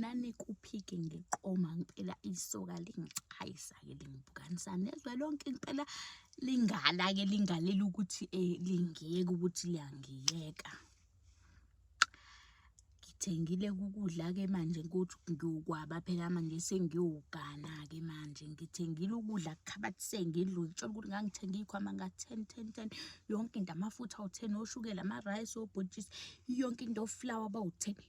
nanikuphike ngiqoma ngempela isoka lingicayisa-ke lingibukanisa nezwe lonke ngempela lingala-ke lingalela ukuthi um lingiyeka ukuthi liyangiyeka ngithengile ukudla-ke manje ukuthi ngiyokwaba phela manje sengiyowugana-ke manje ngithengile ukudla kukhabathi sengidlu ngitshela ukuthi ngangithenge iy'khwama nga-ten ten ten yonke into amafutha awu-ten oshukela ama-rice obhotshisi yonke into oflawa bawu-ten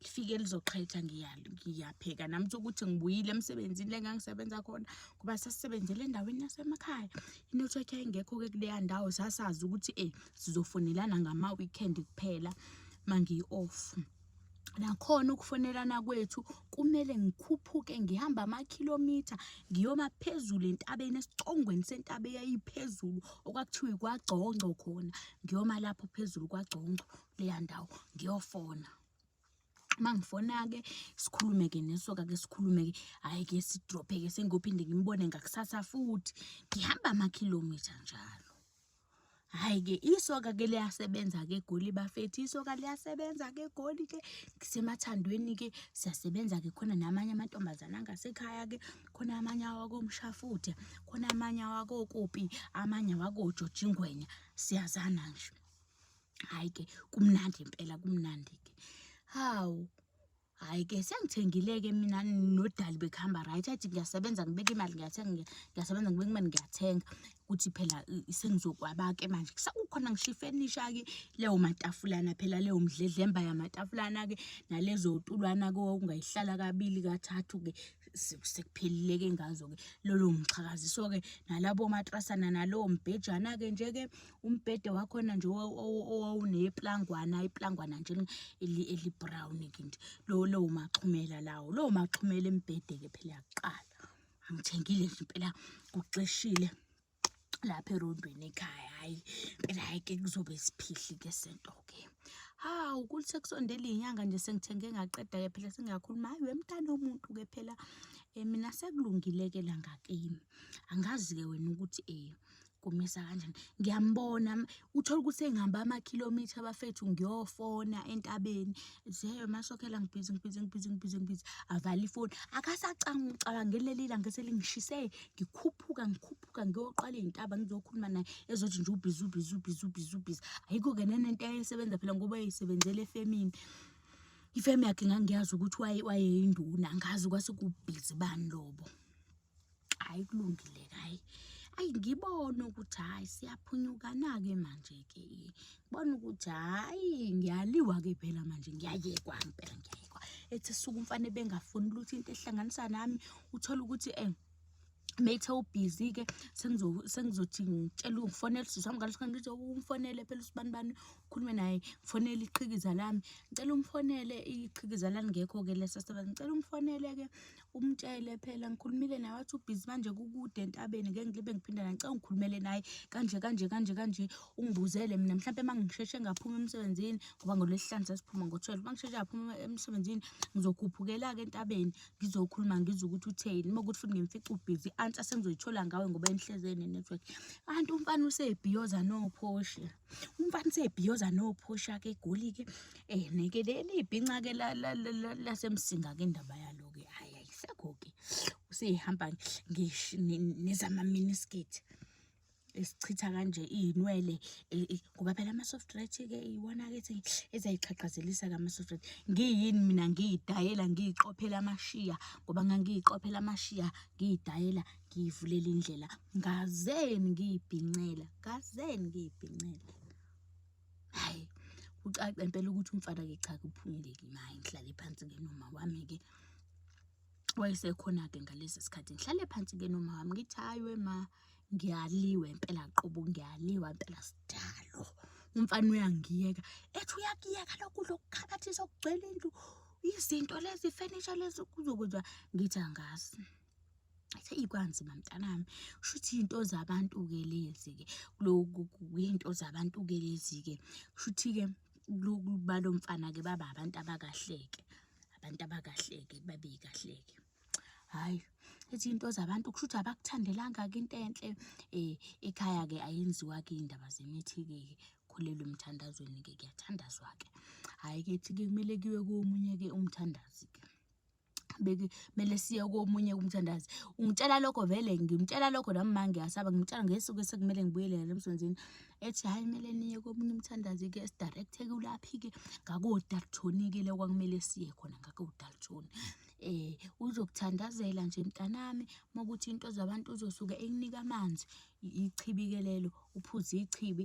lifike lizoqhetha ngiyapheka nami ukuthi ngibuyile emsebenzini le ngangisebenza khona ngoba sasisebenzele endaweni yasemakhaya inetwork yayingekho-ke kuleya ndawo sasazi ukuthi e sizofonelana ngama-weekend kuphela uma ngiyi-off nakhona ukufonelana kwethu kumele ngikhuphuke ngihamba amakhilomitha ngiyoma phezulu entabeni esicongweni sentaba eyayiphezulu okwakuthiwa ikwagcongco khona ngiyoma lapho phezulu kwagcongco leya ndawo ngiyofona uma ngifona-ke sikhulume-ke nesoka-ke sikhulume-ke hhayi-ke sidrophe-ke sengiyophinde ngimbone ngakusasa futhi ngihamba amakhilomitha njalo hhayi-ke isoka-ke liyasebenza-ke egoli bafethu isoka liyasebenza-ke egoli-ke ngisemathandweni-ke siyasebenza-ke khona namanye amantombazane angasekhaya-ke khona amanye awakomshafuthe khona amanye awakokopi amanye awakojojingwenya siyazana nje hayi ke kumnandi impela kumnandi ke hawu hayi ke sengithengile-ke mina nodali bekuhamba right athi ngiyasebenza ngibeka imali ngiyathenga ngiyasebenza ngibeka imali ngiyathenga ukuthi phela sengizokwaba-ke manje kukhona ngisho ifenisha-ke leyo matafulana phela leyo mdledlemba yamatafulana-ke nalezo tulwana-ke okungayihlala kabili kathathu-ke sekuphelile-ke ngazo-ke lolo ngixhakaziso-ke nalabo matrasana nalowo mbhejana-ke nje-ke umbhede wakhona nje owawuneplangwana iplangwana nje elibrown ke nje lo lowo maxhumela lawo lowo maxhumela embhede ke phela yaqala ngithengile nje impela kuxeshile lapha erondweni ekhaya hayi impela hayi ke kuzobe siphihli ke sento ke hawu kuthi sekusondela inyanga nje sengithenge ngaqeda ke phela singakhuluma hayi wemntana omuntu ke phela eh, mina sekulungile ke la ngakimi angazi ke wena ukuthi eh kumisa kanjani ngiyambona uthole ukuthi engihamba amakhilomitha abafethu ngiyofona entabeni zeyo masokhela ngibhizi ngibhizi ngibhizi ngibhizi ngibhizi avala ifoni akasacanga ucabangele leli langa selingishise ngikhuphuka ngikhuphuka ngiyoqala iy'ntaba ngizokhuluma naye ezothi nje ubhizi ubhizi ubhizi ubhizi ubhizi ayikho-ke nanento esebenza phela ngoba eyisebenzela efemini ifemu yakhe ngangiyazi ukuthi wayeyinduna ngazi kwase kubhizi bani lobo hayi kulungile hayi ayi ngibone ukuthi hayi siyaphunyukana-ke manje-ke ngibone ukuthi hayi ngiyaliwa-ke phela manje ngiyayekwa ngempela ngiyayekwa ethi suku umfane bengafuni lutho into ehlanganisa nami uthole ukuthi um methe ubhizi-ke sengizothi ngitshela ngifonele usisi wami ngaleso khathi ngithi umfonele phela usibani bani ukhulume naye ngifonele iqhikiza lami ngicela umfonele iqhikiza langekho-ke lesasebenza ngicela umfonele-ke Umtshele phela ngikhulumile naye wathi ubhizi manje kukude entabeni ngeke ngibe ngiphinda naye ngicela ngikhulumele naye kanje kanje kanje kanje ungibuzele mina mhlawumpe uma ngisheshe ngaphuma emsebenzini ngoba ngolwesihlanu sasiphuma ngo-twelve uma ngisheshe ngaphuma emsebenzini ngizokhuphukela-ke entabeni ngizokhuluma ngizwe ukuthi utheni uma ukuthi futhi ngimfica ubhizi i-answer sengizoyithola ngawe ngoba enihlezeni ne-network kanti umfana usebhiyoza nophoshe. umfana usebhiyoza nophusha ke egoli ke eh neke leli ibhinca ke lasemsinga ke indaba yalo ke hayi ayisekho ke usehamba ngisho nezama miniskirt esichitha kanje izinwele e, e, ngoba phela ama soft red ke iwona ke ethi ezayixhaqhazelisa ka ama soft red ngiyini mina ngiyidayela ngiyiqophela amashiya ngoba ngangiyiqophela amashiya ngiyidayela ngiyivulela indlela ngazeni ngiyibhincela ngazeni ngiyibhincela hayi kucaca impela ukuthi umfana ke cha kuphumuleki maye ngihlale phansi ke noma wami ke wayesekhona-ke ngalesi sikhathi ngihlale phansi ke noma wami ngithi hayi wema ngiyaliwe impela qobo ngiyaliwa impela sidalo umfana uyangiyeka ethi uyakuyeka lokudla okukhabathisa okugcwele indlu izinto lezi furniture lezi kuzokwenza ngithi angazi Eyi kwanzima mntanami, shuthi iy'nto zabantu-ke lezi-ke loku kuyinto zabantu-ke lezi-ke. Shuthi-ke balo mfana-ke baba abantu abakahle-ke, abantu abakahle-ke babi kahle-ke. Hhayi ethi iy'nto zabantu kushuthi abakuthandelanga-ke into enhle ekhaya-ke ayenziwa-ke iy'ndaba zemithi-ke ukholelwa emthandazweni-ke kuyathandazwa-ke. Hhayi-ke ethi-ke kumele kuyiwe komunye-ke umthandazi-ke. kumele siye komunye umthandazi ungitshela lokho vele ngimtshela lokho nami ma ngiyasaba ngimtshela ngesuku esekumele ngibuyelele emsebenzini ethi hhayi kumele niye komunye umthandazi-ke sidirecthe-ke ulaphi-ke ngakodalthoni-ke le kwakumele siye khona ngakodalthoni eh uzokuthandazela nje mntanami makuthi into zabantu uzosuke ekunika amanzi ichibi ke lelo uphuze ichibi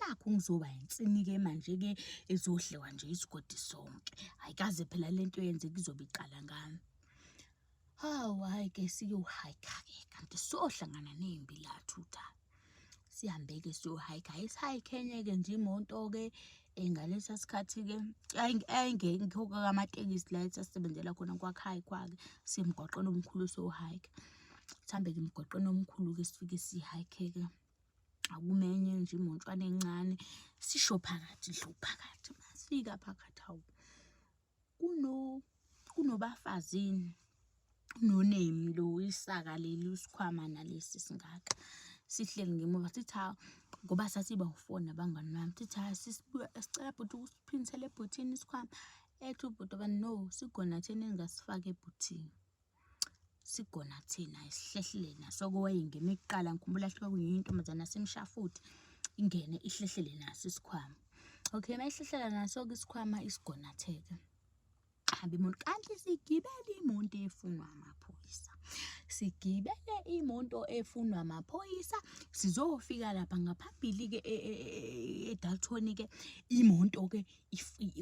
nakhu ngizoba yinsinike manje-ke ezodliwa nje isigodi sonke hhayi kaze phela le nto yenze kuzobe iqala ngami hawu hhayi-ke siyohayikha-ke kanti sohlangana nembi la thutha sihambe-ke siyohayikha hayi sihayikhenye-ke nje imoto-ke eh, ngalesa sikhathi-ke ayingekho-ke kamatekisi la esasebenzela khona kwakhayikhwa-ke semgwaqeni omkhulu sohayikha sihambe-ke emgwaqeni omkhulu-ke sifike sihayikhe-ke akumenye nje imontshwana encane sisho phakathi ndlu phakathi masifika phakathi hawu kuno kunobafazini nonemi lo isaka leli usikhwama nalesi singaka sihleli ngemuva sithi hawu ngoba sathi bawufona abangani bami sithi hayi sisibuya sicela bhuti ukusiphinisela ebhuthini isikhwama ethi ubhuti obani no sigona thina engasifaki ebhuthini Sigona thina isihlehlele naso okway ngimi kuqala ngikhumbula hluke kunye intombazane yasemshafuthi ingene ihlehlele naso isikhwama. Okay mayihlehlela naso ke isikhwama isigona theke hamba imoto kanti sigibele imoto efunwa amaphoyisa. Sigibele imoto efunwa amaphoyisa sizofika lapha ngaphambili-ke e-Dalton-ke imoto-ke.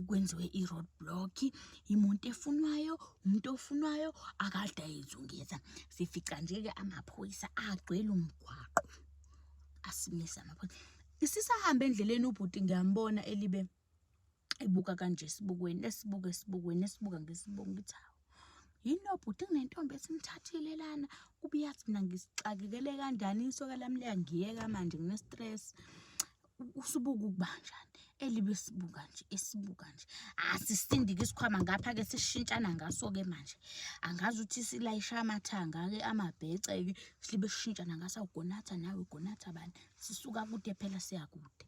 kwenziwe i-road block imoto efunwayo umuntu ofunwayo akade ayizungeza sifica nje-ke amaphoyisa agcwele umgwaqo asimisa amaphoyisa isisahambe endleleni ubhuti ngiyambona elibe ebuka kanje esibukweni esibuka esibukweni esibuka ngesibuko ngithi hawu yini obhuti kunentombi esimthathile lana kubuyathi mina ngisixakekele kanjani isoka lami liyangiyeka manje ngine-stress usubuka ukuba njani elibe sibuka nje esibuka nje asisindike isikhwama ngapha ke sishintshana ngaso ke manje angazi ukuthi silayisha amathanga ke amabhece ke silibe sishintshana ngaso ugonatha nawe ugonatha bani sisuka kude phela siya kude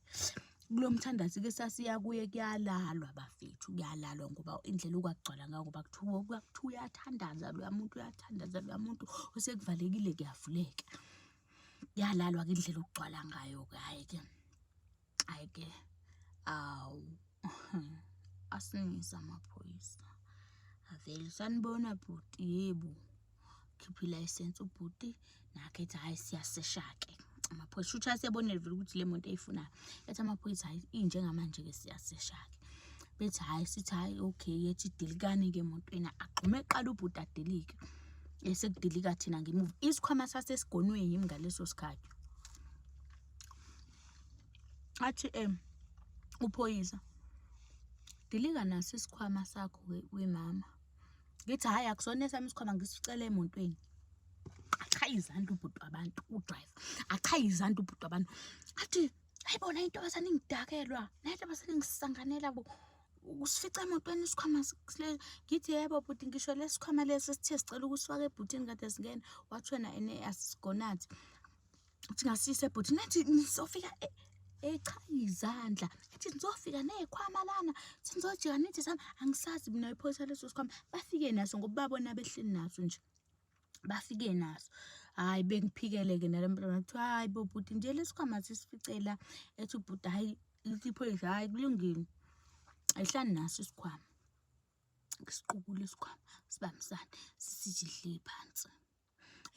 kulomthandazi ke sasiya kuye kuyalalwa bafethu kuyalalwa ngoba indlela okwagcwala ngayo ngoba kuthiwa kuthiwa uyathandaza loya muntu uyathandaza loya muntu osekuvalekile kuyavuleka yalalwa ke indlela okugcwala ngayo ke hayi ke hayi ke awu asinisa amaphoyisa avele sanibona bhuti yebo khipha ilayisensi ubhuti nakhe ethi hhayi siyasesha-ke amaphoyisa shuthi asebonele vele ukuthi le muntu eyifunayo ethi amaphoyisa hhayi injengamanje-ke siyasesha-ke bethi hhayi sithi hhayi okay yethi dilikani-ke emotweni agxume eqala ubhuti adilike esekudilika thina ngemuva isikhwama sasesigonweni yimi ngaleso sikhathi athi um uphoyisa dilika naso isikhwama sakho wemama ngithi hhayi akusona esami isikhwama ngisicela emotweni achaye izandla ubhuti wabantu udrayiva achaye izandla ubhuti wabantu athi hayi bona intombazane ingidakelwa naye intombazane ingisanganela bo usifica emotweni isikhwama ngithi yebo bhuti ngisho lesikhwama lesi sithe sicela ukusifaka ebhutini kade singena wathi wena ene asisigonathi uthi ngasise bhuti nathi nizofika e, echa izandla ethi nizofika neyikhwama lana sinizojika nithi sami angisazi mina iphoyisa leso sikhwama bafike naso ngoba babona behleli naso nje bafike naso hayi bengiphikele-ke nalo mntwana kuthiwa hayi bo bhuti nje lesikhwama sisificela ethi ubhuti hayi liphoyisa hayi kulungile ayihlani naso isikhwama siqukule isikhwama sibambisane sisije hleli phansi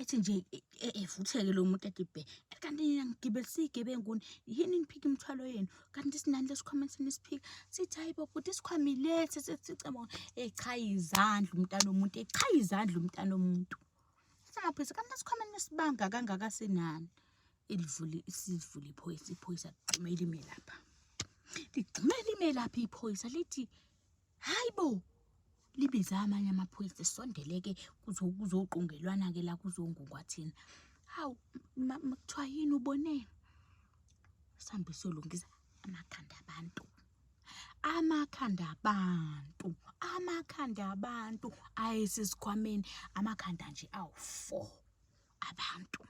ethi nje e, e, evutheke lo muntu ethi bhe kanti nina ngigibelisa iy'gebenguni yini niphika imithwalo yenu kanti sinani lesikhwama senisiphika sithi hayi bo bhuti isikhwama ilethe sesicebo echaya izandla umntana omuntu echaya izandla umntana omuntu singaphisa kanti lesikhwama nesibanga kangaka sinani ilivule isivule iphoyisa iphoyisa ligxume lime lapha ligxume lime lapha iphoyisa lithi hayi bo libize amanye amaphoyisa sondeleke kuzoqungelwana-ke la kuzongungwa thina hawu kuthiwa yini uboneni sihambe siyolungisa amakhanda abantu amakhanda abantu amakhanda abantu ayesesikhwameni amakhanda nje awu-four abantu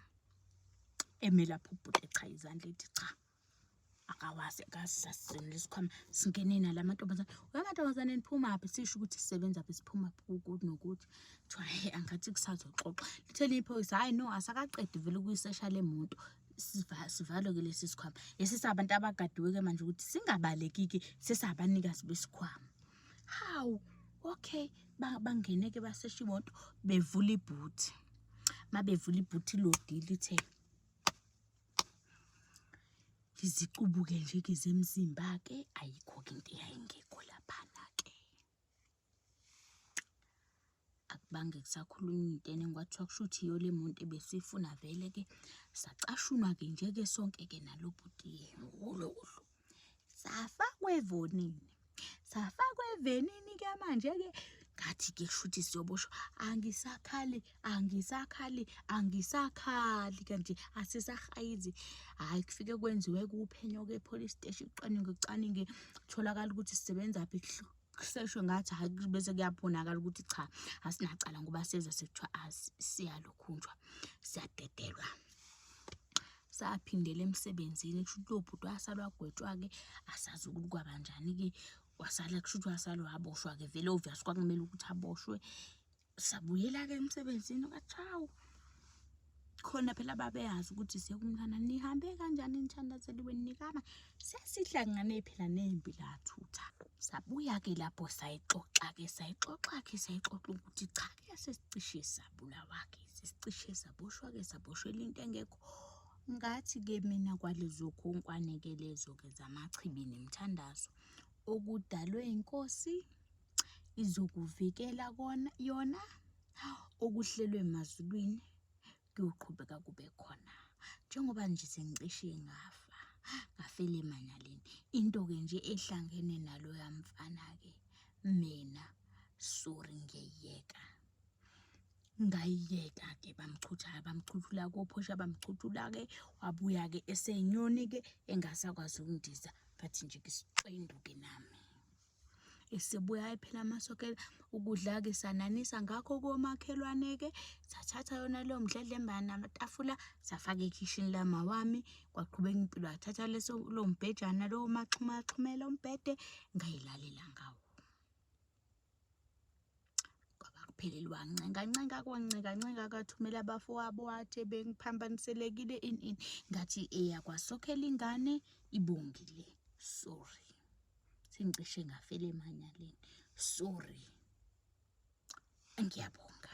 eme lapho ubhuti echaye izandla ethi cha akawazi akazi sasizonela isikhwama singene nala amantombazane amantombazane niphumaphi sisho ukuthi sisebenza phi siphumaphi kukuthi nokuthi kuthiwa he angathi kusazoxoxa lithe liyiphoyisa hhayi no asakaqedi vele ukuyisesha le muntu sivalwe-ke lesi sikhwama lesi sabantu abagadiwe-ke manje ukuthi singabalekiki sesabanikazi besikhwama hawu okay bangene-ke basesha imoto bevula ibhuthi uma bevula ibhuthi lodili lithe ngizicubuke nje ke zemzimba ke ayikho ke into eyayingekho laphana ke akubange kusakhuluma intene kwathiwa kushuthi iyo le muntu ebesifuna vele ke sacashunwa ke nje ke sonke ke nalo bhuti yena ngolo uhlu safakwa evonini safakwa evenini ke manje ke ngathi ke kushuthi siyoboshwa angisakhali angisakhali angisakhali kanti asisahayizi hayi kufike kwenziwe kuphenyo ke police station ucwaninge ucwaninge kutholakala ukuthi sisebenza phi kuseshwe ngathi hayi bese kuyabonakala ukuthi cha asinacala ngoba seza sekuthiwa siyalokhunjwa siyadedelwa saphindela emsebenzini kusho ukuthi lobhuti wasalwa gwetshwa-ke asazi ukuthi kwabanjani-ke wasala kusho ukuthi wasalwa waboshwa-ke vele obvious kwakumele ukuthi aboshwe sabuyela-ke emsebenzini kwathi hawu khona phela babeyazi ukuthi sekumntana nihambe kanjani nithandazeli wenu nikama sesihlangane phela nempi lathutha sabuya-ke lapho sayixoxa-ke sayixoxa-ke sayixoxa ukuthi cha-ke sesicishe sabulawa-ke sesicishe saboshwa-ke saboshwela into engekho ngathi-ke mina kwalezo khonkwane-ke lezo-ke zamachibi nemithandazo okudalwe inkosi izokuvikela kona yona okuhlelwe emazulwini kuyoqhubeka kube khona njengoba nje sengicishe ngafa ngafela emanaleni into-ke nje ehlangene naloya mfana-ke mina sori ngiyayeka ngayiyeka-ke bamchuthayo bamchuthula kophosha bamchuthula-ke wabuya-ke eseyinyoni-ke engasakwazi ukundiza ngathi nje ngisixwenduke nami esebuya ephela amasokela ukudla-ke sananisa ngakho komakhelwane-ke sathatha yona leyo mdledlemba namatafula safaka ekhishini lama wami kwaqhubeka impilo yathatha leso lo mbhejana lowo maxhumaxhumela umbhede ngayilalela ngawo ngaphelelwa ncengancenga kwancengancenga kathumela abafowabo wathi bengiphambaniselekile ini ini ngathi eyakwasokhela ingane ibongile sorry sengicishe ngafela emanyaleni sorry ngiyabonga